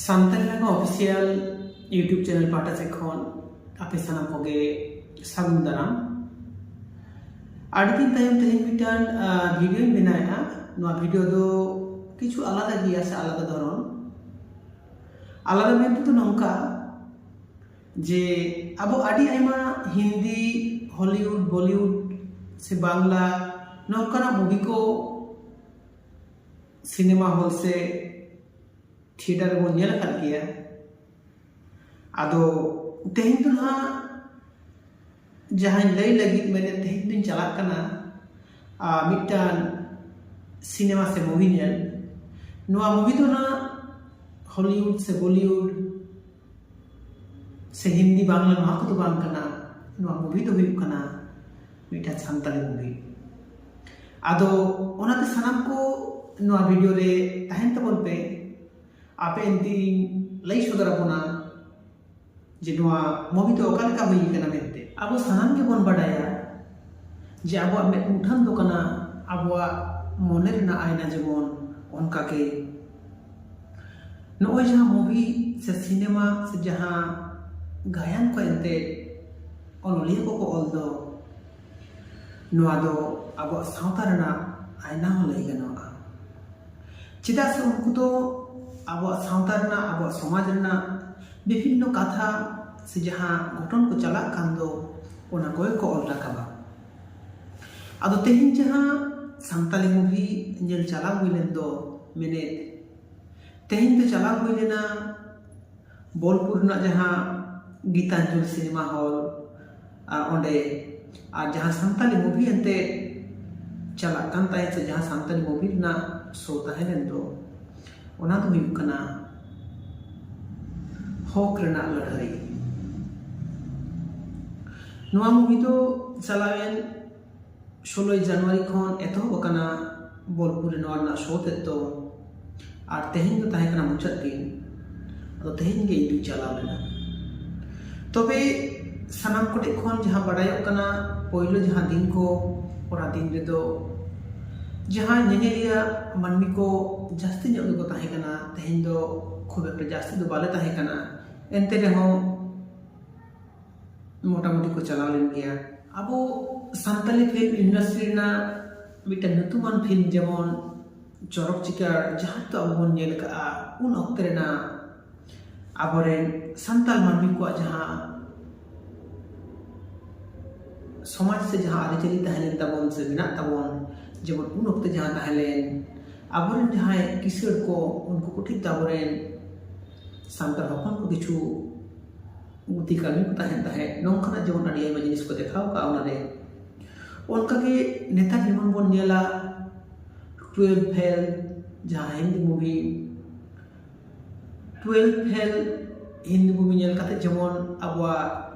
ᱥᱟᱱᱛᱟᱲᱤ ᱨᱮᱱᱟᱜ official YouTube channel ᱯᱟᱦᱴᱟ ᱥᱮᱫ ᱠᱷᱚᱱ ᱟᱯᱮ ᱥᱟᱱᱟᱢ ᱠᱚᱜᱮ ᱥᱟᱹᱜᱩᱱ ᱫᱟᱨᱟᱢ ᱟᱹᱰᱤ ᱫᱤᱱ ᱛᱟᱭᱚᱢ ᱛᱮᱦᱮᱧ ᱢᱤᱫᱴᱟᱝ ᱵᱷᱤᱰᱤᱭᱳᱧ ᱵᱮᱱᱟᱣᱮᱫᱼᱟ ᱱᱚᱣᱟ ᱵᱷᱤᱰᱤᱭᱳ ᱫᱚ ᱠᱤᱪᱷᱩ ᱟᱞᱟᱫᱟ ᱜᱮᱭᱟ ᱥᱮ ᱟᱞᱟᱫᱟ ᱫᱷᱚᱨᱚᱱ ᱟᱞᱟᱫᱟ ᱢᱮᱱ ᱛᱮᱫᱚ ᱱᱚᱝᱠᱟ ᱡᱮ ᱟᱵᱚ ᱟᱹᱰᱤ ᱟᱭᱢᱟ ᱦᱤᱱᱫᱤ ᱦᱚᱞᱤᱣᱩᱰ ᱵᱚᱞᱤᱣᱩᱰ ᱥᱮ ᱵᱟᱝᱞᱟ ᱱᱚᱝᱠᱟᱱᱟᱜ ᱢᱩᱵᱷᱤ ᱠᱚ ᱥᱤᱱᱮᱢᱟ ᱦᱚᱞ ᱥᱮ ᱛᱷᱤᱭᱮᱴᱟᱨ ᱨᱮᱵᱚᱱ ᱧᱮᱞ ᱟᱠᱟᱫ ᱜᱮᱭᱟ ᱟᱫᱚ ᱛᱮᱦᱮᱧ ᱫᱚ ᱱᱟᱦᱟᱜ ᱡᱟᱦᱟᱸᱧ ᱞᱟᱹᱭ ᱞᱟᱹᱜᱤᱫ ᱢᱮᱱᱮᱫ ᱛᱮᱦᱮᱧ ᱫᱚᱧ ᱪᱟᱞᱟᱜ ᱠᱟᱱᱟ ᱢᱤᱫᱴᱟᱝ ᱥᱤᱱᱮᱢᱟ ᱥᱮ ᱢᱩᱵᱷᱤ ᱧᱮᱞ ᱱᱚᱣᱟ ᱢᱩᱵᱷᱤ ᱫᱚ ᱱᱟᱦᱟᱜ ᱦᱚᱞᱤᱣᱩᱰ ᱥᱮ ᱵᱚᱞᱤᱣᱩᱰ ᱥᱮ ᱦᱤᱱᱫᱤ ᱵᱟᱝᱞᱟ ᱱᱚᱣᱟ ᱠᱚᱫᱚ ᱵᱟᱝ ᱠᱟᱱᱟ ᱱᱚᱣᱟ ᱢᱩᱵᱷᱤ ᱫᱚ ᱦᱩᱭᱩᱜ ᱠᱟᱱᱟ ᱢᱤᱫᱴᱟᱝ ᱥᱟᱱᱛᱟᱲᱤ ᱢᱩᱵᱷᱤ ᱟᱫᱚ ᱚᱱᱟᱛᱮ ᱥᱟᱱᱟᱢ ᱠᱚ ᱱᱚᱣᱟ ᱵᱷᱤᱰᱤᱭᱳ ᱨᱮ ᱛᱟᱦᱮᱱ ᱛᱟᱵᱚᱱ ᱯᱮ ᱟᱯᱮ ᱮᱱᱛᱤᱧ ᱞᱟᱹᱭ ᱥᱚᱫᱚᱨ ᱟᱵᱚᱱᱟ ᱡᱮ ᱱᱚᱣᱟ ᱢᱩᱵᱷᱤ ᱫᱚ ᱚᱠᱟ ᱞᱮᱠᱟ ᱦᱩᱭ ᱠᱟᱱᱟ ᱢᱮᱱᱛᱮ ᱟᱵᱚ ᱥᱟᱱᱟᱢ ᱜᱮᱵᱚᱱ ᱵᱟᱰᱟᱭᱟ ᱡᱮ ᱟᱵᱚᱣᱟᱜ ᱢᱮᱫ ᱢᱩᱴᱷᱟᱹᱱ ᱫᱚ ᱠᱟᱱᱟ ᱟᱵᱚᱣᱟᱜ ᱢᱚᱱᱮ ᱨᱮᱱᱟᱜ ᱟᱭᱱᱟ ᱡᱮᱢᱚᱱ ᱚᱱᱠᱟᱜᱮ ᱱᱚᱜᱼᱚᱭ ᱡᱟᱦᱟᱸ ᱢᱩᱵᱷᱤ ᱥᱮ ᱥᱤᱱᱮᱢᱟ ᱥᱮ ᱡᱟᱦᱟᱸ ᱜᱟᱭᱟᱱ ᱠᱚ ᱮᱱᱛᱮ ᱚᱱᱚᱞᱤᱭᱟᱹ ᱠᱚᱠᱚ ᱚᱞ ᱫᱚ ᱱᱚᱣᱟ ᱫᱚ ᱟᱵᱚᱣᱟᱜ ᱥᱟᱶᱛᱟ ᱨᱮᱱᱟᱜ ᱟᱭᱱᱟ ᱦᱚᱸ ᱞᱟᱹᱭ ᱜᱟᱱᱚᱜᱼᱟ ᱪᱮᱫᱟᱜ ᱥᱮ ᱩᱱᱠᱩ ᱫᱚ ᱟᱵᱚᱣᱟᱜ ᱥᱟᱶᱛᱟ ᱨᱮᱱᱟᱜ ᱟᱵᱚᱣᱟᱜ ᱥᱚᱢᱟᱡᱽ ᱨᱮᱱᱟᱜ ᱵᱤᱵᱷᱤᱱᱱᱚ ᱠᱟᱛᱷᱟ ᱥᱮ ᱡᱟᱦᱟᱸ ᱜᱷᱚᱴᱚᱱ ᱠᱚ ᱪᱟᱞᱟᱜ ᱠᱟᱱ ᱫᱚ ᱚᱱᱟ ᱠᱚᱜᱮ ᱠᱚ ᱚᱞ ᱨᱟᱠᱟᱵᱟ ᱟᱫᱚ ᱛᱮᱦᱮᱧ ᱡᱟᱦᱟᱸ ᱥᱟᱱᱛᱟᱞᱤ ᱢᱩᱵᱷᱤ ᱧᱮᱞ ᱪᱟᱞᱟᱣ ᱦᱩᱭ ᱞᱮᱱ ᱫᱚ ᱢᱮᱱᱮᱫ ᱛᱮᱦᱮᱧ ᱫᱚ ᱪᱟᱞᱟᱣ ᱦᱩᱭ ᱞᱮᱱᱟ ᱵᱳᱞᱯᱩᱨ ᱨᱮᱱᱟᱜ ᱡᱟᱦᱟᱸ ᱜᱤᱛᱟᱧᱡᱚᱞ ᱥᱤᱱᱮᱢᱟ ᱦᱚᱞ ᱟᱨ ᱚᱸᱰᱮ ᱟᱨ ᱡᱟᱦᱟᱸ ᱥᱟᱱᱛᱟᱞᱤ ᱢᱩᱵᱷᱤ ᱮᱱᱛᱮ ᱪᱟᱞᱟᱜ ᱠᱟᱱ ᱛᱟᱦᱮᱸᱫ ᱥᱮ ᱡᱟᱦᱟᱸ ᱥᱟᱱᱛᱟᱞᱤ ᱢᱩᱵᱷᱤ ᱨᱮᱱᱟᱜ ᱥᱳ ᱛᱟᱦᱮᱸ ᱞᱮᱱ ᱫᱚ ᱚᱱᱟ ᱫᱚ ᱦᱩᱭᱩᱜ ᱠᱟᱱᱟ ᱦᱚᱠ ᱨᱮᱱᱟᱜ ᱞᱟᱹᱲᱦᱟᱹᱭ ᱱᱚᱣᱟ ᱢᱩᱵᱷᱤ ᱫᱚ ᱪᱟᱞᱟᱣᱮᱱ ᱥᱳᱞᱳᱭ ᱡᱟᱱᱩᱣᱟᱨᱤ ᱠᱷᱚᱱ ᱮᱛᱚᱦᱚᱵ ᱟᱠᱟᱱᱟ ᱵᱳᱞᱯᱩᱨ ᱨᱮ ᱱᱚᱣᱟ ᱨᱮᱱᱟᱜ ᱥᱳ ᱛᱮᱫ ᱫᱚ ᱟᱨ ᱛᱮᱦᱮᱧ ᱫᱚ ᱛᱟᱦᱮᱸ ᱠᱟᱱᱟ ᱢᱩᱪᱟᱹᱫ ᱫᱤᱱ ᱟᱫᱚ ᱛᱮᱦᱮᱧ ᱜᱮ ᱤᱧ ᱫᱩᱧ ᱪᱟᱞᱟᱣ ᱞᱮᱱᱟ ᱛᱚᱵᱮ ᱥᱟᱱᱟᱢ ᱠᱚᱴᱷᱮᱱ ᱠᱷᱚᱱ ᱡᱟᱦᱟᱸ ᱵᱟᱰᱟᱭᱚᱜ ᱠᱟᱱᱟ ᱯᱳᱭᱞᱳ ᱡᱟᱦᱟᱸ ᱫᱤᱱ ᱠᱚ ᱚᱱᱟ ᱫᱤᱱ ᱨᱮᱫᱚ ᱡᱟᱦᱟᱸ ᱧᱮᱧᱮᱞᱤᱭᱟᱹ ᱢᱟᱹᱱᱢᱤ ᱠᱚ ᱡᱟᱹᱥᱛᱤ ᱧᱚᱜ ᱜᱮᱠᱚ ᱛᱟᱦᱮᱸ ᱠᱟᱱᱟ ᱛᱮᱦᱮᱧ ᱫᱚ ᱠᱷᱩᱵ ᱮᱠᱴᱟ ᱡᱟᱹᱥᱛᱤ ᱫᱚ ᱵᱟᱞᱮ ᱛᱟᱦᱮᱸ ᱠᱟᱱᱟ ᱮᱱᱛᱮ ᱨᱮᱦᱚᱸ ᱢᱳᱴᱟᱢᱩᱴᱤ ᱠᱚ ᱪᱟᱞᱟᱣ ᱞᱮᱱ ᱜᱮᱭᱟ ᱟᱵᱚ ᱥᱟᱱᱛᱟᱞᱤ ᱯᱷᱤᱞᱢ ᱤᱱᱰᱟᱥᱴᱨᱤ ᱨᱮᱱᱟᱜ ᱢᱤᱫᱴᱮᱱ ᱧᱩᱛᱩᱢᱟᱱ ᱯᱷᱤᱞᱢ ᱡᱮᱢᱚᱱ ᱪᱚᱨᱚᱠ ᱪᱤᱠᱟᱹᱲ ᱡᱟᱦᱟᱸ ᱱᱤᱛᱚᱜ ᱟᱵᱚ ᱵᱚᱱ ᱧᱮᱞ ᱠᱟᱜᱼᱟ ᱩᱱ ᱚᱠᱛᱮ ᱨᱮᱱᱟᱜ ᱟᱵᱚᱨᱮᱱ ᱥᱟᱱᱛᱟᱲ ᱢᱟᱹᱱᱢᱤ ᱠᱚᱣᱟᱜ ᱡᱟᱦᱟᱸ ᱥᱚᱢᱟᱡᱽ ᱥᱮ ᱡᱟᱦᱟᱸ ᱟᱹᱨᱤᱪᱟᱹᱞᱤ ᱛᱟᱦᱮᱸ ᱞᱮᱱ ᱛᱟᱵᱚᱱ ᱥᱮ ᱢᱮᱱᱟᱜ ᱛᱟᱵᱚᱱ ᱡᱮᱢᱚᱱ ᱩᱱ ᱚᱠᱛᱮ ᱡᱟᱦᱟᱸ ᱛᱟᱦᱮᱸ ᱞᱮᱱ ᱟᱵᱚᱨᱮᱱ ᱡᱟᱦᱟᱸᱭ ᱠᱤᱥᱟᱹᱬ ᱠᱚ ᱩᱱᱠᱩ ᱠᱚ ᱴᱷᱤᱠ ᱟᱵᱚᱨᱮᱱ ᱥᱟᱱᱛᱟᱲ ᱦᱚᱯᱚᱱ ᱠᱚ ᱠᱤᱪᱷᱩ ᱵᱩᱫᱷᱤ ᱠᱟᱹᱢᱤ ᱠᱚ ᱛᱟᱦᱮᱱ ᱛᱟᱦᱮᱸᱫ ᱱᱚᱝᱠᱟᱱᱟᱜ ᱡᱮᱢᱚᱱ ᱟᱹᱰᱤ ᱟᱭᱢᱟ ᱡᱤᱱᱤᱥ ᱠᱚ ᱫᱮᱠᱷᱟᱣ ᱠᱟᱜᱼᱟ ᱚᱱᱟᱨᱮ ᱚᱱᱠᱟᱜᱮ ᱱᱮᱛᱟᱨ ᱡᱮᱢᱚᱱ ᱵᱚᱱ ᱧᱮᱞᱟ ᱴᱩᱭᱮᱞᱵᱷ ᱯᱷᱮᱞ ᱡᱟᱦᱟᱸ Hindi movie twelfth fail Hindi movie ᱧᱮᱞ ᱠᱟᱛᱮ ᱡᱮᱢᱚᱱ ᱟᱵᱚᱣᱟᱜ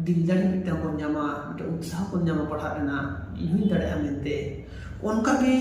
ᱫᱤᱞ ᱡᱟᱹᱱᱤ ᱢᱤᱫᱴᱟᱱ ᱵᱚᱱ ᱧᱟᱢᱟ ᱢᱤᱫᱴᱟᱱ ᱩᱛᱥᱟᱦᱚ ᱵᱚᱱ ᱧᱟᱢᱟ ᱯᱟᱲᱦᱟᱜ ᱨᱮᱱᱟᱜ ᱤᱧ ᱦᱚᱸᱧ ᱫᱟᱲᱮᱭᱟᱜᱼᱟ ᱢᱮᱱᱛᱮ ᱚᱱᱠᱟ ᱜᱮ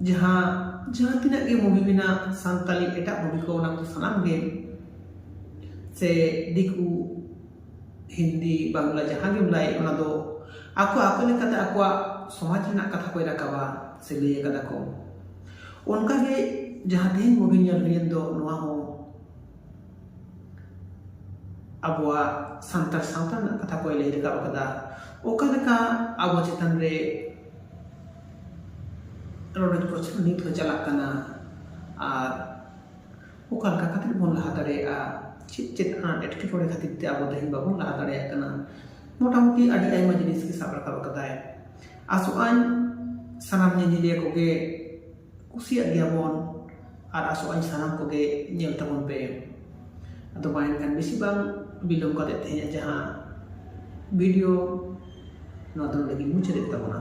ᱡᱟᱦᱟᱸ ᱡᱟᱦᱟᱸ ᱛᱤᱱᱟᱹᱜ ᱜᱮ ᱢᱩᱵᱷᱤ ᱢᱮᱱᱟᱜ ᱥᱟᱱᱛᱟᱲᱤ ᱮᱴᱟᱜ ᱢᱩᱵᱷᱤ ᱠᱚ ᱚᱱᱟ ᱠᱚ ᱥᱟᱱᱟᱢ ᱜᱮ ᱥᱮ ᱫᱤᱠᱩ ᱦᱤᱱᱫᱤ ᱵᱟᱝᱞᱟ ᱡᱟᱦᱟᱸ ᱜᱮᱢ ᱞᱟᱹᱭ ᱚᱱᱟ ᱫᱚ ᱟᱠᱚ ᱟᱠᱚ ᱞᱮᱠᱟᱛᱮ ᱟᱠᱚᱣᱟᱜ ᱥᱚᱢᱟᱡᱽ ᱨᱮᱱᱟᱜ ᱠᱟᱛᱷᱟ ᱠᱚᱭ ᱨᱟᱠᱟᱵᱟ ᱥᱮ ᱞᱟᱹᱭ ᱠᱟᱫᱟ ᱠᱚ ᱚᱱᱠᱟ ᱜᱮ ᱡᱟᱦᱟᱸ ᱛᱮᱦᱮᱧ ᱢᱩᱵᱷᱤ ᱧᱮᱞ ᱦᱩᱭᱮᱱ ᱫᱚ ᱱᱚᱣᱟ ᱦᱚᱸ ᱟᱵᱚᱣᱟᱜ ᱥᱟᱱᱛᱟᱲ ᱥᱟᱶᱛᱟ ᱨᱮᱱᱟᱜ ᱠᱟᱛᱷᱟ ᱠᱚᱭ ᱞᱟᱹᱭ ᱨᱟᱠᱟᱵ ᱠᱟᱫᱟ ᱚᱠᱟ ᱞᱮᱠᱟ ᱟᱵᱚ ᱪᱮᱛᱟᱱ ᱨᱮ ᱨᱚᱰᱚᱡ ᱠᱚᱪᱞᱚᱱ ᱱᱤᱛ ᱦᱚᱸ ᱪᱟᱞᱟᱜ ᱠᱟᱱᱟ ᱟᱨ ᱚᱠᱟ ᱞᱮᱠᱟ ᱠᱟᱛᱮᱫ ᱵᱚᱱ ᱞᱟᱦᱟ ᱫᱟᱲᱮᱭᱟᱜᱼᱟ ᱪᱮᱫ ᱪᱮᱫ ᱦᱟᱸᱜ ᱮᱴᱠᱮᱴᱚᱬᱮ ᱠᱷᱟᱹᱛᱤᱨ ᱛᱮ ᱟᱵᱚ ᱛᱮᱦᱮᱧ ᱵᱟᱵᱚᱱ ᱞᱟᱦᱟ ᱫᱟᱲᱮᱭᱟᱜ ᱠᱟᱱᱟ ᱢᱳᱴᱟᱢᱩᱴᱤ ᱟᱹᱰᱤ ᱟᱭᱢᱟ ᱡᱤᱱᱤᱥ ᱜᱮ ᱥᱟᱵ ᱨᱟᱠᱟᱵ ᱠᱟᱫᱟᱭ ᱟᱥᱚᱜ ᱟᱹᱧ ᱥᱟᱱᱟᱢ ᱧᱮᱧᱮᱞᱤᱭᱟᱹ ᱠᱚᱜᱮ ᱠᱩᱥᱤᱭᱟᱜ ᱜᱮᱭᱟ ᱵᱚᱱ ᱟᱨ ᱟᱥᱚᱜ ᱟᱹᱧ ᱥᱟᱱᱟᱢ ᱠᱚᱜᱮ ᱧᱮᱞ ᱛᱟᱵᱚᱱ ᱯᱮ ᱟᱫᱚ ᱢᱟ ᱮᱱᱠᱷᱟᱱ ᱵᱮᱥᱤ ᱵᱟᱝ ᱵᱤᱞᱚᱢ ᱠᱟᱛᱮᱫ ᱛᱮᱦᱮᱧᱟᱜ ᱡᱟᱦᱟᱸ ᱵᱷᱤᱰᱤᱭᱳ ᱱᱚᱣᱟ ᱫᱚ ᱱᱚᱰᱮ ᱜᱮᱧ ᱢᱩᱪᱟᱹᱫᱮᱫ ᱛᱟᱵᱚᱱᱟ